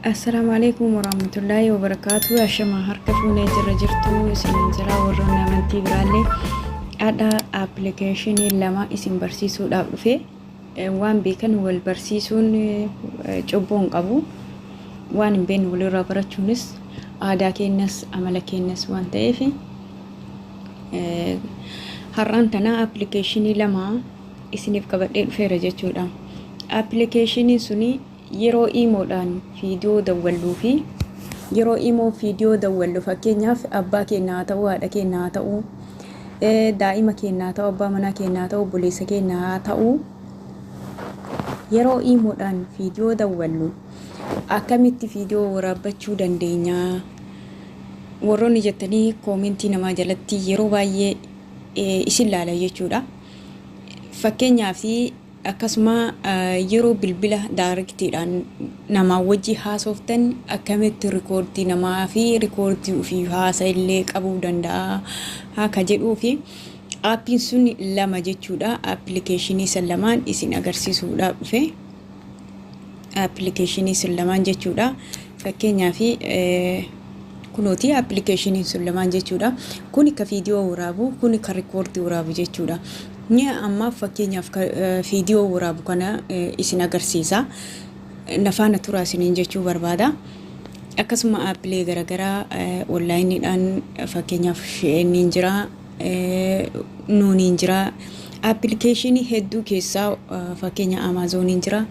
Assalaamu alaikum warahmatullaahi wabarakaatu ashama harka fuunee jirra jirtu isiniin jira warroonni amantii biraallee adha appilikeeshinii lama isin barsiisuudhaaf dhufe Eh, waan beekan wal barsiisuun eh, cubbuu hin qabu waan hin beekne walirraa barachuunis aadaa keenyas amala keenyas waan ta'eef eh, har'aan tana appilikeeshinii lama isiniif qabadhee dhufeera jechuudha. Appilikeeshiniin suni yeroo iimoodhaan viidiyoo dawwalluu fi yeroo imoo viidiyoo dawwallu fakkeenyaaf abbaa keenya haa ta'uu haadha keenya haa ta'uu daa'ima keenya haa ta'uu abbaa manaa keenya haa ta'uu obboleessa keenya haa ta'uu yeroo iimoodhaan viidiyoo dawwallu akkamitti viidiyoo waraabbachuu dandeenya warroonni jettanii koomentii namaa jalatti yeroo baay'ee isin laala jechuudha. Fakkeenyaaf akkasuma yeroo bilbila daariktiidhaan namaa wajji haasoftan akkamitti rikoordii namaa fi rikoordii ofii haasa illee qabuu danda'a akka jedhuu fi aappiin sun lama jechuudha. Appilikeeshinii san lamaan isin agarsiisuudhaaf dhufe. appilikeeshinii sun lamaan jechuudha. Fakkeenyaaf kunooti appilikeeshiniin sun lamaan jechuudha. Kun ka viidiyoo waraabu, kun ka rikoordii waraabu jechuudha. Ni ammaaf fakkeenyaaf viidiyoo waraabu kana isin agarsiisa. Nafaana turaa isiniin jechuu barbaada. Akkasuma aappilee garaagaraa onlaayiniidhaan fakkeenyaaf ni jira. nuuniin jira. Appilikeeshinii hedduu keessaa fakkeenya Amaazoniin jira.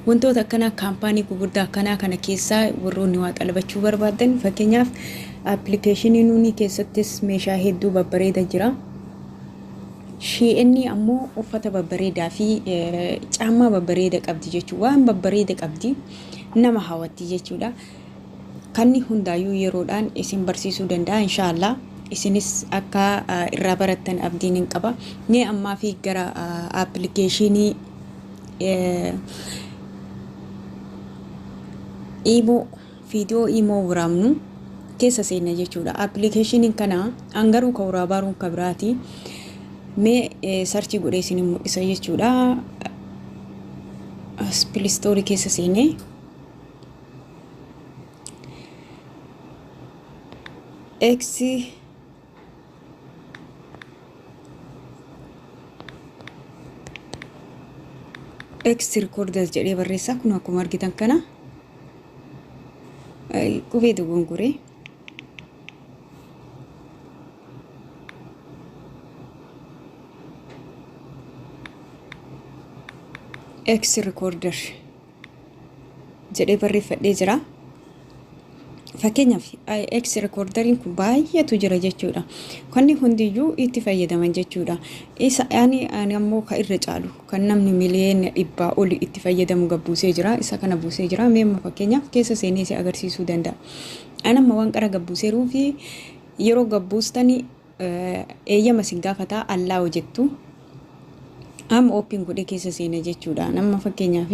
Wantoota akkanaa kaampaanii gurguddaa akkanaa kana keessaa warroonni waa xalabachuu barbaadan fakkeenyaaf appilikeeshinii nuunii keessattis meeshaa hedduu babbareeda jira. Shii'inni ammoo uffata babbareedaa fi caammaa babbareeda qabdi jechuudha. Waan babbareeda qabdi nama hawatti jechuudha. Kanni hundaayyuu yeroodhaan isin barsiisuu danda'a inshaa Allah. Isinis akka irraa barattan abdiin hin qaba. Mee ammaa fi gara appilikeeshinii imoo viidiyoo imoo waraabnu keessa seenna jechuudha. Appilikeeshiniin kana an garuu ka waraabaaruun ka biraati. Mee sarchii godhee isin mul'isa jechuudha. As pilistoorii keessa seenee. X X recorders jedhee barreessaa kun akkuma argitan kana qubee dogongoree X recorder jedhee barreeffadhee jira. Fakkeenyaaf IX rekoordariin kun baay'eetu jira jechuudha. Kanni hundiyyuu itti fayyadaman jechuudha. Isa ani ani ammoo ka irra caalu kan namni miliyoona dhibbaa oli itti fayyadamu gad buusee jira. Isa kana buusee jira. Mee immoo fakkeenyaaf keessa seenee si agarsiisuu danda'a. Ani amma waan qara gad buuseeruu fi yeroo gad buustanii eeyyama sin gaafata allow jettu amma open godhee keessa seena jechuudha amma fakkeenyaaf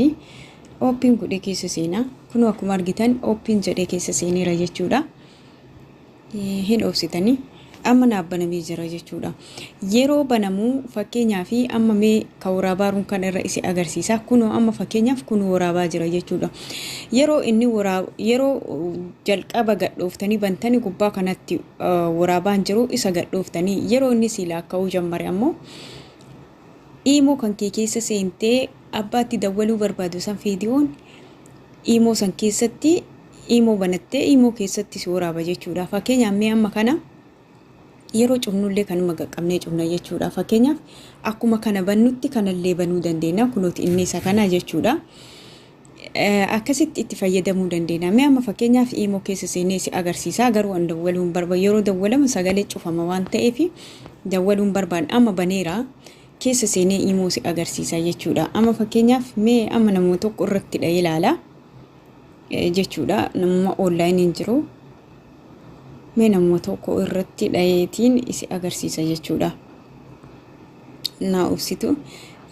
open godhee keessa seena kunoo akkuma argitan open jedhee keessa seeneera jechuudha hin obsitanii amma naaf banamee jira jechuudha yeroo banamuu fakkeenyaaf amma mee Ka woraabaarun kan irra isi agarsiisa. Kunoo amma fakkeenyaaf kun woraabaa jira jechuudha. Yeroo inni woraa yeroo jalqaba gadhooftanii bantanii gubbaa kanatti woraabaan jiru isa gadhooftanii yeroo inni sii laakka'uu jammare ammoo iimoo kan kee keessa seentee abbaatti dawwaluu barbaadu san fiidiyoon iimoo san keessatti iimoo banattee iimoo keessatti si woraaba jechuudha. Fakkeenyaaf mee amma kana Yeroo cufnullee kanuma qaqqabnee cufna jechuudha. Fakkeenyaaf akkuma kana bannutti kanallee banuu dandeenya. Kunooti inni isa kana jechuudha. Akkasitti itti fayyadamuu dandeenya. Mee amma fakkeenyaaf iimoo keessa seenee si agarsiisaa garuu an dawwaluun barba yeroo dawwalamu sagalee cufama waan ta'eef dawwaluun barbaan amma baneera keessa seenee iimoo si agarsiisaa jechuudha. Amma fakkeenyaaf mee amma nama tokko irratti dha'ee ilaala. jechuudha namuma oonlaayiniin jiru mee namuma tokko irratti dhayeetiin isi agarsiisa jechuudha naa obsitu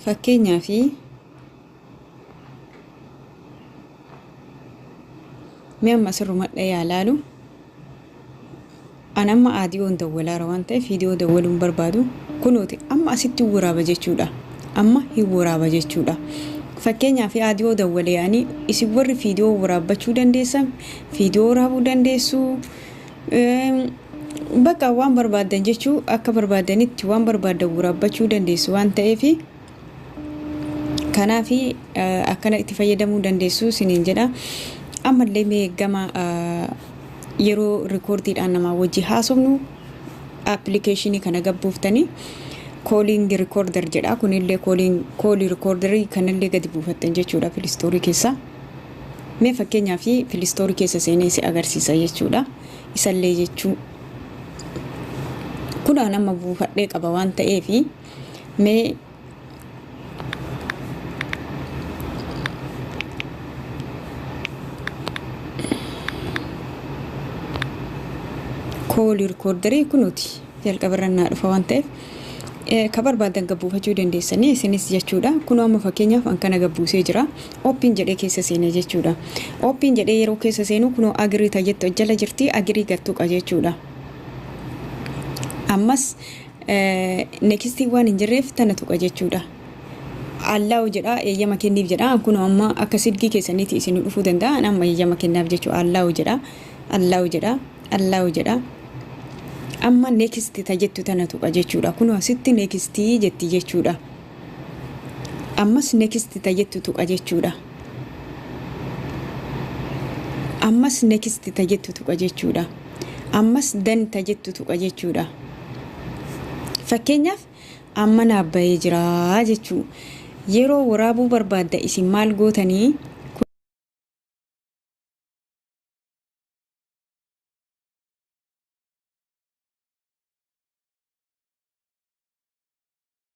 fakkeenyaa fi mee amma sirrumadha yaa laalu An amma aadiyoon dawwalaara waan ta'eef viidiyoo dawwaluu hin barbaadu. Kunooti amma asitti hin waraaba jechuudha. Amma hin waraaba jechuudha. Fakkeenyaaf aadiyoo dawwalee ani isin warri viidiyoo waraabbachuu dandeessan viidiyoo waraabuu dandeessu. Bakka waan barbaaddan jechuu akka barbaaddanitti waan barbaaddan waraabbachuu dandeessu waan ta'eef Kanaaf akkana itti fayyadamuu dandeessu isiniin jedha. Ammallee mee gama yeroo rikoordiidhaan namaa wajji haasofnu appilikeeshinii kana gabbuuftanii kooliingi rikoorder jedha. Kunillee koolii rikoorderii kanallee gadi buufattan jechuudha pilistoorii keessaa. Mee fakkeenyaaf pilistoorii keessa seenee si agarsiisa jechuudha. Isallee jechuu kunaan amma buufadhee qaba waan ta'eefi. Mee koolii rikoordarii kunuuti jalqabarra naa dhufa waan ta'eef ka barbaadan gabbuufachuu dandeessanii isinis jechuudha kun amma fakkeenyaaf an kana gabbuusee jira oppiin jedhee keessa seenee jechuudha oppiin jedhee yeroo keessa seenuu kunoo agirii tajettu jala jirti agirii gattuqa jechuudha ammas Next waan hin jirreef tana tuqa jechuudha. Allaahu jedha eeyyama kenniif jedha an kunoo amma akka silkii keessaniiti isin dhufuu danda'a an amma eeyyama kennaaf jechuu Allaahu jedha Allaahu jedha Allaahu jedha amma next ta jettu tana tuqa jechuudha kunoo sitti next jetti jechuudha. ammas next ta jettu tuqa jechuudha ammas next ta jettu tuqa jechuudha ammas dan ta jettu tuqa jechuudha fakkeenyaaf amma naaf bahee jira jechuu yeroo waraabuu barbaadda isin maal gootanii